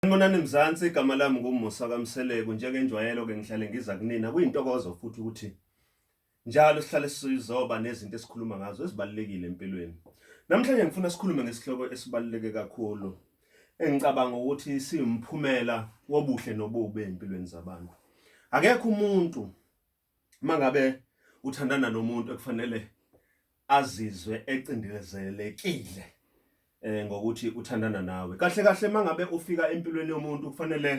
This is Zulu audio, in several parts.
Sanibonani Mzansi, igama lami nguMusa kaMseleku. Njengenjwayelo ke ngihlale ngiza kunina. Kuyintokozo futhi ukuthi njalo sihlale sizoba nezinto esikhuluma ngazo ezibalulekile empilweni. Namhlanje ngifuna sikhulume ngesihloko esibaluleke kakhulu engicabanga ukuthi siwumphumela wobuhle nobubi empilweni zabantu. Akekho umuntu mangabe uthandana nomuntu ekufanele azizwe ecindezelekile eh ngokuthi uthandana nawe kahle kahle mangabe ufika empilweni yomuntu kufanele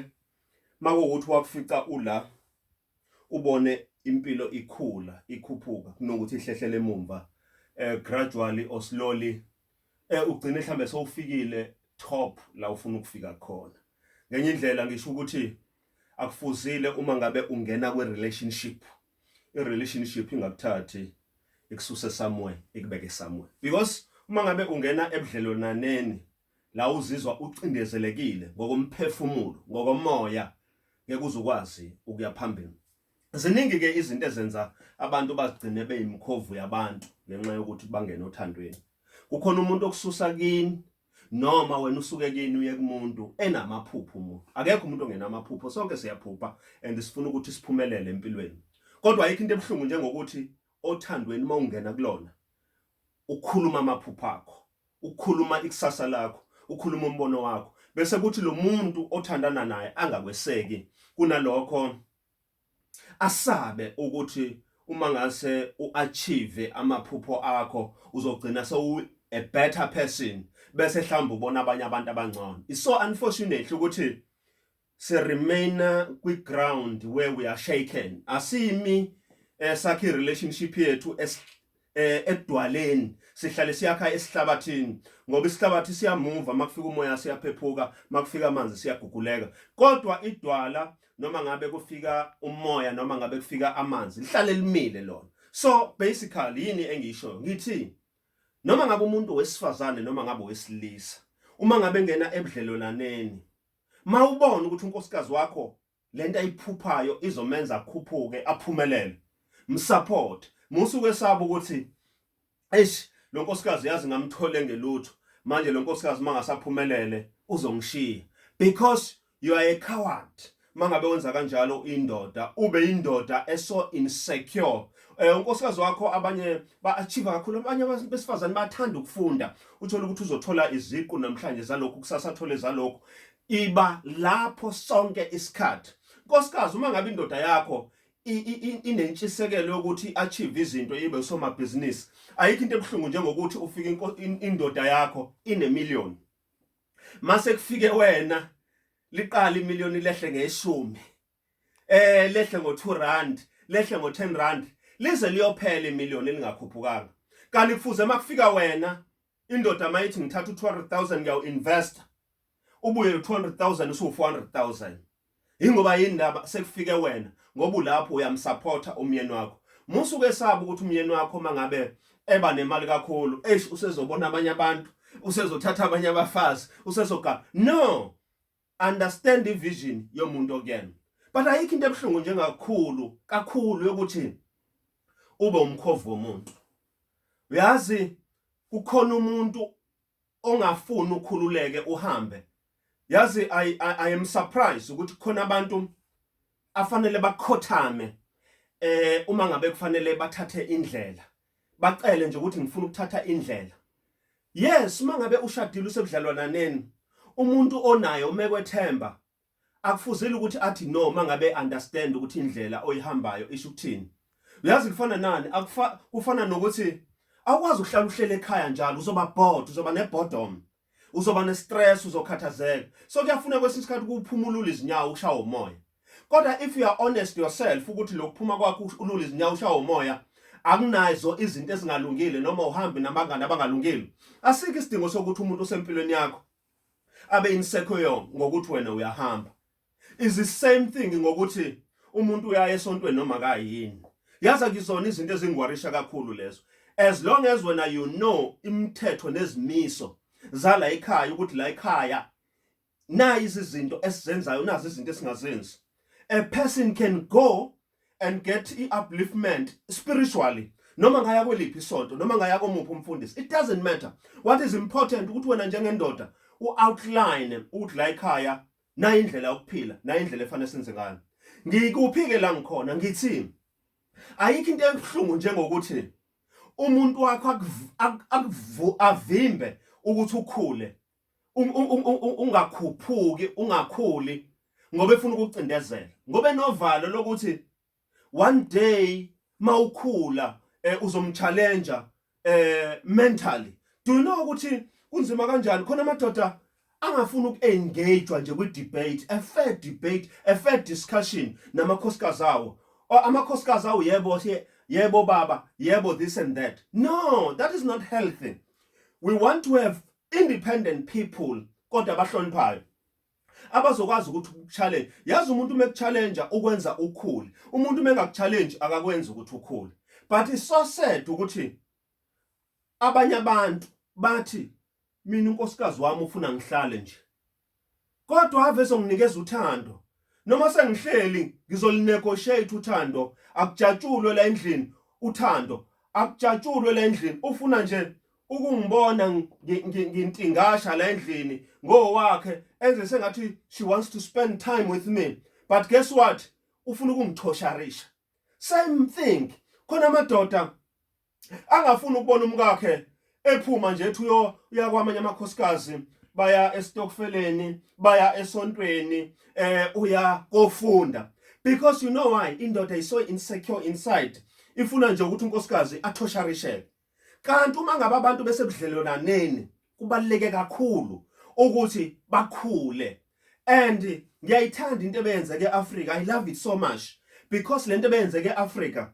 makuwukuthi wakufica ula ubone impilo ikhula ikhuphuka kunokuthi ihlehlele emumva eh gradually or slowly eh ugcine mhlambe sowufikile top la ufuna ukufika khona ngenye indlela ngisho ukuthi akufuzile uma ngabe ungena kwi relationship i relationship ingakuthathi ikususe somewhere ikubeke somewhere because uma ngabe ungena ebudlelwananeni la uzizwa ucindezelekile ngokomphefumulo ngokomoya ngeke uzukwazi ukuya phambili ziningi ke izinto ezenza abantu bazigcine beyimkhovu yabantu ngenxa yokuthi bangena othandweni kukhona umuntu okususa kini noma wena usuke kini uye kumuntu enamaphupho umuntu akekho umuntu ongenamaphupho sonke siyaphupha and sifuna ukuthi siphumelele empilweni kodwa ayikho into ebuhlungu njengokuthi othandweni uma ungena kulona ukhuluma amaphupho akho ukhuluma ikusasa lakho ukhuluma umbono wakho bese kuthi lo muntu othandana naye angakweseki kunalokho Asabe ukuthi uma ngase uachieve amaphupho akho uzogcina sowu a better person bese hlawumbe ubona abanye abantu abangcono. It's so unfortunately ukuthi si remainer kwi ground where we are shaken. Asimi esakhi eh, relationship yethu eh edwaleni sihlale siyakha esihlabathini ngoba isihlabathi siyamuva makufika umoya siyaphephuka makufika amanzi siyaguguleka kodwa idwala noma ngabe kufika umoya noma ngabe kufika amanzi lihlale limile lona so basically yini engisho ngithi noma ngabe umuntu wesifazane noma ngabe wesilisa uma ngabe ngena ebudlelolaneni mawubona ukuthi unkosikazi wakho lento ayiphuphayo izomenza akhuphuke aphumelele msupport musuke saba ukuthi eish lo nkosikazi yazi ngamthole ngelutho manje lo nkosikazi mangasaphumelele uzongishiya because you are a coward mangabe wenza kanjalo indoda ube indoda eso insecure eh unkosikazi wakho abanye ba-achieve kakhulu abanye besifazane bathanda ukufunda uthole ukuthi uzothola iziqu namhlanje zalokhu kusasa athole zalokhu Iba lapho sonke isikhathi. Nkosikazi uma ngabe indoda yakho inentshisekelo yokuthi achieve izinto ibe usomabhizinisi ayikho into ebuhlungu njengokuthi ufike indoda yakho inemillion mase kufike wena liqala imillion lehle ngeshumi eh lehle ngo 2 rand lehle ngo 10 rand lize liyophela imillion elingakhuphukanga kanti kufuze makufika wena indoda mayithi ngithatha u200000 ngiyawu invest ubuye lo200000 usu 400000 ingoba yini laba sekufike wena ngoba ulapho uyamsupporta umyeni wakho musuke esaba ukuthi umyeni wakho mangabe eba nemali kakhulu eish usezobona abanye abantu usezothatha abanye abafazi usezoga no understand ivision yomuntu okuyena but ayikho into ebuhlungu njengakhulu kakhulu yokuthi ube umkhovu womuntu uyazi kukhona umuntu ongafuni ukhululeke uhambe yazi i, I, I am surprised ukuthi khona abantu afanele bakhothame eh uma ngabe kufanele bathathe indlela bacele nje ukuthi ngifuna ukuthatha indlela yes uma ngabe ushadile usebudlalwananeni umuntu onayo umekwethemba akufuzile ukuthi athi no uma ngabe understand ukuthi indlela oyihambayo isho ukuthini uyazi kufana nani akufa kufana nokuthi awukwazi ukuhlala uhlele ekhaya njalo uzoba bored uzoba nebodom uzoba nestress uzokhathazeka so kuyafuna kwesinye isikhathi ukuphumulula izinyawo ushawa umoya kodwa if you are honest yourself ukuthi lokuphuma kwakho ulula izinyawo ushawa umoya akunazo izinto ezingalungile noma uhambe nabangani abangalungile asikho isidingo sokuthi umuntu osempilweni yakho abe insecure ngokuthi wena uyahamba is the same thing ngokuthi umuntu uyaye esontweni noma kayini yazi akizona izinto ezingwarisha kakhulu lezo as long as wena you know imithetho nezimiso zala ekhaya ukuthi la ekhaya nayi izinto esizenzayo nazi izinto esingazenzi a person can go and get i-upliftment spiritually noma ngaya kweliphi isonto noma ngaya komuphi umfundisi it doesn't matter what is important ukuthi wena njengendoda u-outline ukuthi la ekhaya nayi indlela yokuphila nayi indlela efanele senze ngayo ngikuphike la ngikhona ngithini ayikho into ebuhlungu njengokuthi umuntu wakho akuvu avimbe ukuthi ukhule ungakhuphuki ungakhuli ngoba efuna ukucindezela ngoba enovalo lokuthi one day mawukhula eh, uzomchallenge eh mentally do you know ukuthi kunzima kanjani khona amadoda angafuni ukuengage nje kwi debate a fair debate a fair discussion namakhosikazi awo amakhosikazi awo yebo yebo baba yebo this and that no that is not healthy we want to have independent people kodwa abahloniphayo abazokwazi ukuthi ukuchallenge yazi umuntu uma ekuchallenge ukwenza ukhule umuntu uma engakuchallenge akakwenza ukuthi ukhule but it's so sad ukuthi abanye abantu bathi mina unkosikazi wami ufuna ngihlale nje kodwa ave songinikeza uthando noma sengihleli ngizolinegotiate uthando akujatshulwe la endlini uthando akujatshulwe la endlini ufuna nje ukungibona ngintingasha la endlini ngowakhe enze sengathi she wants to spend time with me but guess what ufuna ukungithosharisha same thing khona amadoda angafuni ukubona umkakhe ephuma nje ethi uyo uyakwamanye amakhosikazi baya estokfeleni baya esontweni eh uya kofunda because you know why indoda is so insecure inside ifuna nje ukuthi unkosikazi athosharisheke kanti uma ngabe abantu besebudlelonaneni kubaluleke kakhulu ukuthi bakhule and ngiyayithanda into ebeyenzeke eAfrica i love it so much because lento ebeyenzeke eAfrica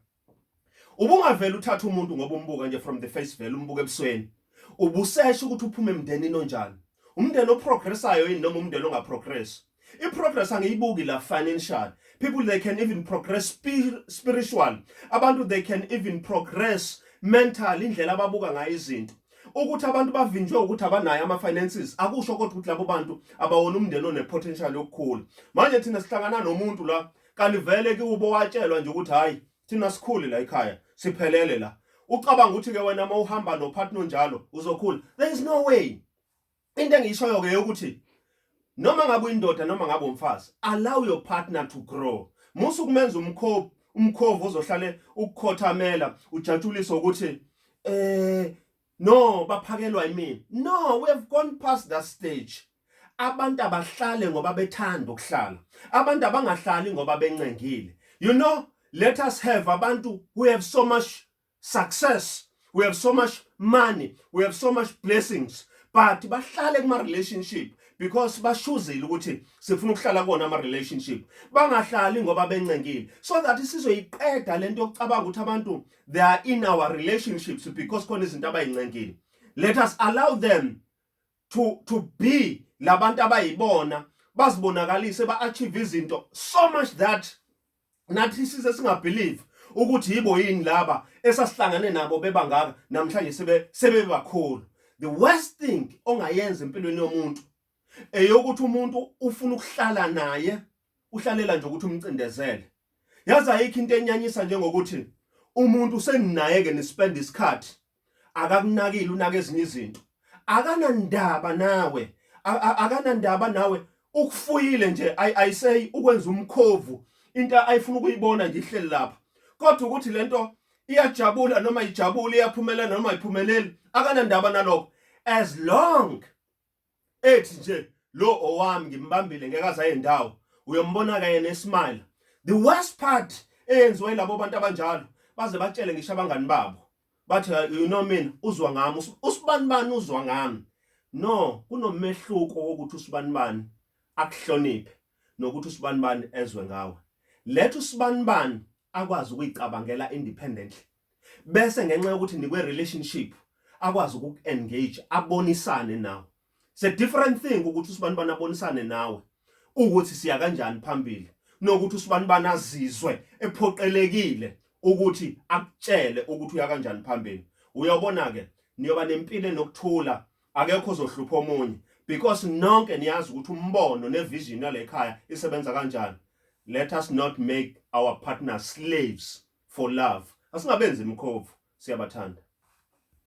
ubungavela uthatha umuntu ngoba umbuka nje from the face value umbuka ebusweni ubusesha ukuthi uphume emndenini onjani umndeni oprogressayo yini noma umndeni ongaprogress I progress angiyibuki la financial. People they can even progress spir spiritual. Abantu they can even progress mental indlela ababuka ngayo izinto. ukuthi abantu bavinjwe ukuthi abanayo ama finances akusho kodwa ukuthi labo bantu abawona umndeni one potential yokukhula manje thina sihlangana nomuntu la kanti vele kubo watshelwa nje ukuthi hayi thina sikhule la ekhaya siphelele la ucabanga ukuthi ke wena uma uhamba no partner njalo uzokhula there is no way into engiyishoyo ke ukuthi noma ngabe uyindoda noma ngabe umfazi allow your partner to grow musu kumenza umkhovu umkhovu ozohlale ukukhothamela ujatshulisa ukuthi eh no baphakelwa yimini no we have gone past that stage abantu abahlale ngoba bethanda ukuhlala abantu abangahlali ngoba bencengile you know let us have abantu who have so much success we have so much money we have so much blessings but bahlale kuma relationship because bashuzile ukuthi sifuna ukuhlala kona ama relationship bangahlali ngoba bencengile so that sizoyiqeda lento yokucabanga ukuthi abantu they are in our relationships because khona izinto abayincengile let us allow them to to be labantu abayibona bazibonakalise ba achieve izinto so much that nathi size singabelieve ukuthi yibo yini laba esasihlangane nabo bebangaka namhlanje sebe sebebakhulu the worst thing ongayenza empilweni yomuntu eyokuthi umuntu ufuna ukuhlala naye uhlalela nje ukuthi umcindezele yazi ayikho into enyanyisa njengokuthi umuntu seninaye ke nispend isikhathi akakunakile unaka ezinye izinto akanandaba nawe akanandaba nawe ukufuyile nje i say ukwenza umkhovu into ayifuna ukuyibona nje ihleli lapha kodwa ukuthi lento iyajabula noma ijabule iyaphumelela noma ayiphumeleli akanandaba nalokho as long ethi nje lo owami ngimbambile ngeke azaye ndawo uyombona kanye nesmile the worst part eyenziwa yilabo bantu abanjalo baze batshele ngisho abangani babo bathi you know mina uzwa ngami usibani bani uzwa ngami no kunomehluko wokuthi usibani bani akuhloniphe nokuthi usibani bani ezwe ngawe letha usibani bani akwazi ukuyicabangela independently bese ngenxa yokuthi nikwe relationship akwazi uku engage abonisane nawe it's a different thing ukuthi usibani bana abonisane nawe ukuthi siya kanjani phambili nokuthi usibani bana azizwe ephoqelekile ukuthi akutshele ukuthi uya kanjani phambili uyabona ke niyoba nempilo nokuthula akekho uzohlupha omunye because nonke niyazi ukuthi umbono nevision yalekhaya isebenza kanjani let us not make our partners slaves for love asingabenzi imkhovu siyabathanda